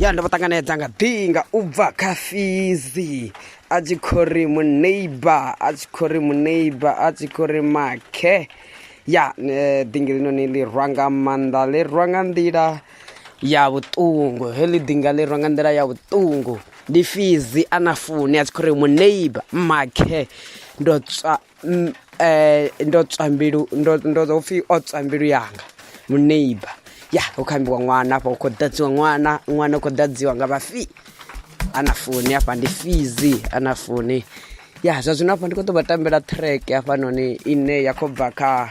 ya ndo vha ṱanganedza nga ḓinga u bva kha fizi a tshi khou ri muneighbor a tshi khou ri muneighbor a tshi khou ri makhe ya eh, ḓingi linoni ḽi rwa nga maanḓa ḽi rwa nga nḓila ya vhuṱungu heḽi ḓinga ḽi rwa nga nḓila ya vhuṱungu ndi fizi a na funi a tshi khou ri muneighbor makhe ndo tswa um ndo tswa mbilu ndo ndo ḓo pfhi o tswa mbilu yanga muneiba ya hu kho ambiwa ṅwana afha hu khou ḓadziwa ṅwana ṅwana u khou ḓadziwa nga vhafii ana foni hafha ndi fizi ana foni ya zwa zwino hafha ndi khou ḓo vha tambela track hafhanoni ine ya khou bva kha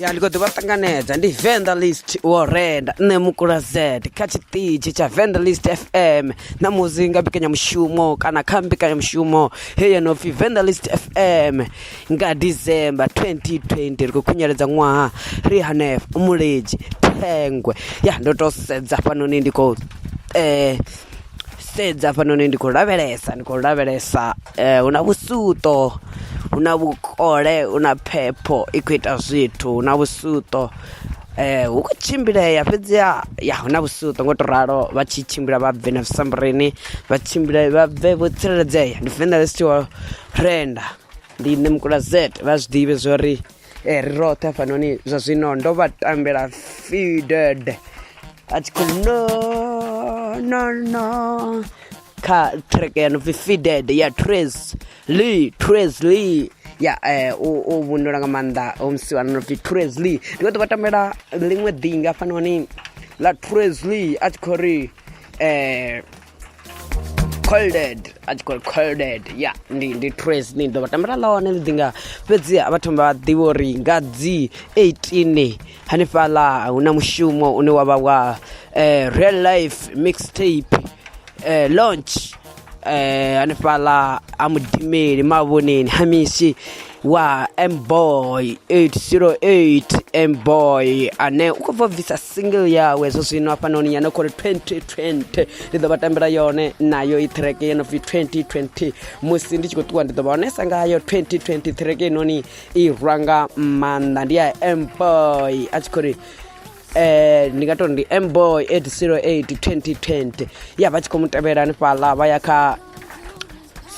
ya ndi khou ḓivha ṱanganedza ndi venderlist wo renda nṋe mukula z kha tshiṱitshi tsha venderlist fm na muzi nga mbekanyamushumo kana kha mbekanyamushumo heyi yo no pfhi venderlist fm nga December 2020 ri khou khunyeledza ṅwaha ri hanefho mulidzi thengwe ya ndo to sedza hafhanoni ndi khou eh sedza hafhanoni ndi khou lavhelesa ndi khou lavhelesa eh hu na vhusuto hu na vhukole hu na phepho i khou ita zwithu hu na vhusuto eh hu khou tshimbilea fhedzi ya ya hu na vhusuto ngo to ralo vha tshi tshimbila vha bve na zwisamburini vha tshimbile vha bve vho tsireledzea ndi venḓa ḽi si wa renda ndi nṋe mukula z vha zwi ḓivhe zwo ri eh, ri roṱhe hafhanoni zwa zwino ndo vha tambela fided a tshi khou no no no kha track ya no pfi fided ya tres lee tres lee ya eh, u u vhundula nga maanḓa omsi wana no pfi tres lee ndi khou ḓo vha tambela ḽiṅwe ḓinga hafhanoni ḽa tres lee a tshi khou ri eh colded a tshi khou colded ya ndi ndi tres ni ḓo vha tambela ḽone ḽi ḓi nga fhedzi vha thoma vha ḓivha uri nga dzi 18 hanefhaḽa hu na mushumo une wa vha wa eh, real life mixtape eh, launch eh, hanefhaḽa ha mudimeli mavhoneni ha mishi wa mboy 808 mboy ane u khou bva bvisa single yawe zwo zwino hafhanoni ya no khou ri 2020 ndi ḓo vha tambela yone nayo i treke yo no pfi 2020 musi ndi tshi khou ṱuwa ndi ḓo vha onesa ngayo 2020 treke inoni i rwa nga maanḓa ndi ya mboy a tshi khou ri eh ndi nga tori ndi mboy 808 2020 ya vha tshi khou mu tevhela hanefhaḽa vha ya kha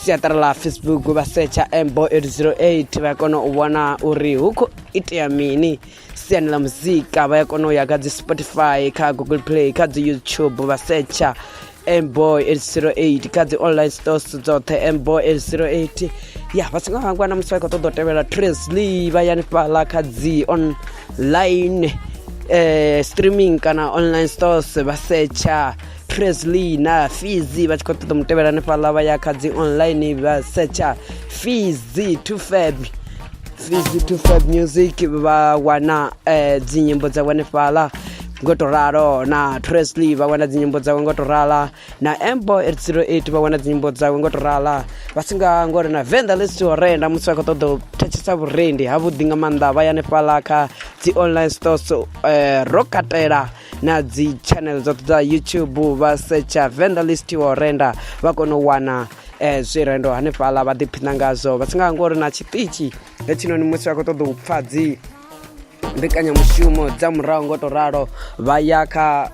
siaṱari ḽa facebook vha setsha mbo 808 vha kona u vhona uri hu khou itea mini siani ḽa muzika vha ya kona u ya kha dzi spotify kha google play kha dzi youtube vha setsha mbo 808 kha dzi online stores dzoṱhe mbo 808 ya vha songo hangwa na musi vha khou ṱoḓa u tevhela tresly vha yani fhaḽa kha dzi online eh, streaming kana online stores vha setsha presley na fizi vha tshi khou ṱoḓa mutevhela hanefhaḽa vha ya kha dzi online vha secha fizi to fab fizi to fab music vha wana eh, dzinyimbo dza hanefhaḽa ngo to ralo na presley vha wana dzinyimbo dzawe ngo to rala na embo 808 vha wana dzinyimbo dzawe ngo to rala vha si nga ngori na venḓa ḽi si tshi horenda musi vha khou ṱoḓa u thetshetsa vhurendi havhuḓi nga maanḓa vha ya hanefhaḽa kha dzi online stores eh, ro katela na dzi channel dzoṱhe dza youtube vha setsha venda list wa renda vha kone u wana eh, zwirendo hanefhaḽa vha ḓiphina ngazwo vha si nga ngori na tshiṱitshi hetshinoni musi vha khou ṱoḓa u pfha dzi mbekanyamushumo dza murahu ngo to ralo vha ya kha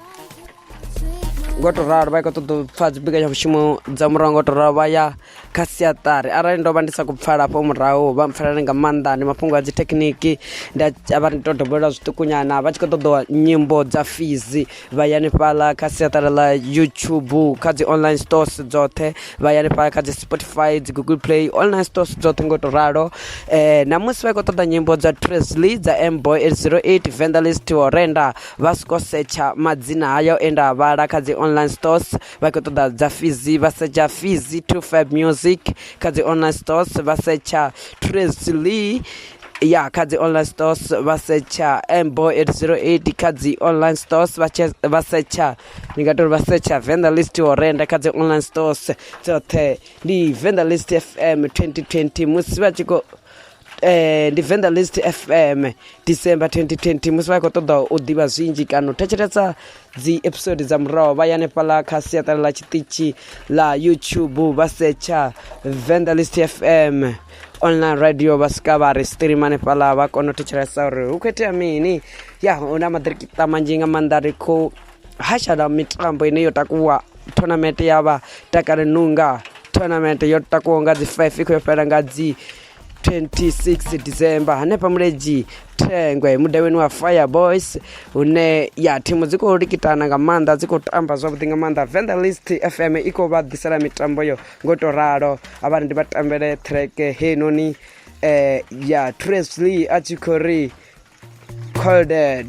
ngo to ralo vha i khou ṱoḓa u pfha dzi mbekanyamushumo dza murahu ngo to ralo vha ya kha siaṱari arali ndo vha ndi sa khou pfala hafho murahu vha mpfhalele nga maanḓa ndi mafhungo a dzi thekhiniki nda vha ri to dobolela zwiṱukunyana vha tshi khou ṱoḓa nyimbo dza fizi vha ya hanefhaḽa kha siaṱari ḽa youtube kha dzi online stores dzoṱhe vha ya hanefhaḽa kha dzi spotify dzi google play online stores dzoṱhe ngo to ralo um namusi vha khou ṱoḓa nyimbo dza tresley dza mboy eight zero eight vendelist horenda vha soko setsha madzina hayo e nda a vhala kha dzi online stores vha khou ṱoḓa dza fizi vha setsha fizi to fab music kha dzi online stores vha setsha tracy lee ya kha dzi online stores vha setsha mbo 808 kha dzi online stores vha setsha ndi nga tori vha setsha venda list yo renda kha dzi online stores dzoṱhe ndi venda list fm 2020 musi vha tshi khou eh, ndi venḓa list fm december 2020 musi vha khou ṱoḓa u ḓivha zwinzhi kana u thetshelesa dzi episode dza muraho vha yanefhala kha siaṱala ḽa tshiṱitshi ḽa youtube vha setsha venḓa list fm online radio vha swika vha ri stream hanefhala vha kona u thetshelesa uri hu khou itea mini ya hu na maḓirikita manzhi nga maanḓa ri khou hashala mitambo ine yo takuwa tournament ya vha takale nunga tournament yo takuwa nga dzi five i khou yo fhela nga dzi 26 december hanefha muledzhi thengwe mudavheni wa fire boys hune ya thimu dzi khou likitana nga maanḓa dzi khou tamba zwavhuḓi nga maanḓa venda list fm i khou vha ḓisela mitambo yo ngo tou ralo avhani ndi vha tambele treke heinoni eh, ya tresley a tshi khou ri colded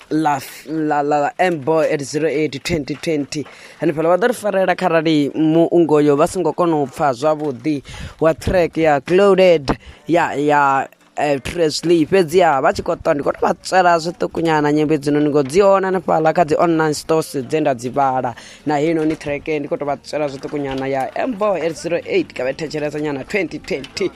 ḽa ḽa ḽa mbo at 08 2020 hanefhaḽa vha ḓo ri farela kharali muungo yo vha songo kona u pfha zwavhuḓi wa track ya clouded ya ya eh, tresly fhedziha vha tshi khou ṱwa ndi khou tou vha tswela zwiṱukunyana nyimbo hedzinoni ngo dzi hone hanefhaḽa kha dzi online stores dze nda dzi vhala na heinoni track ndi khou tou vha tswela zwiṱukunyana ya mbo at 08 ka vha thetshelesa nyana 2020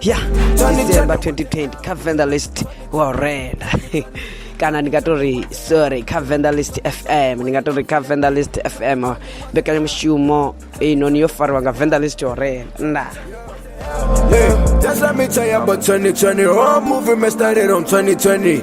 ya december 2020 kha venda list wa renda kana ndi nga to ri sorry kha venda list fm ndi nga to ri kha venda list fm mbekanyamushumo inoni yo fariwa nga venda list yo renda Hey, just let me tell you about 2020. Whole movie man started on 2020.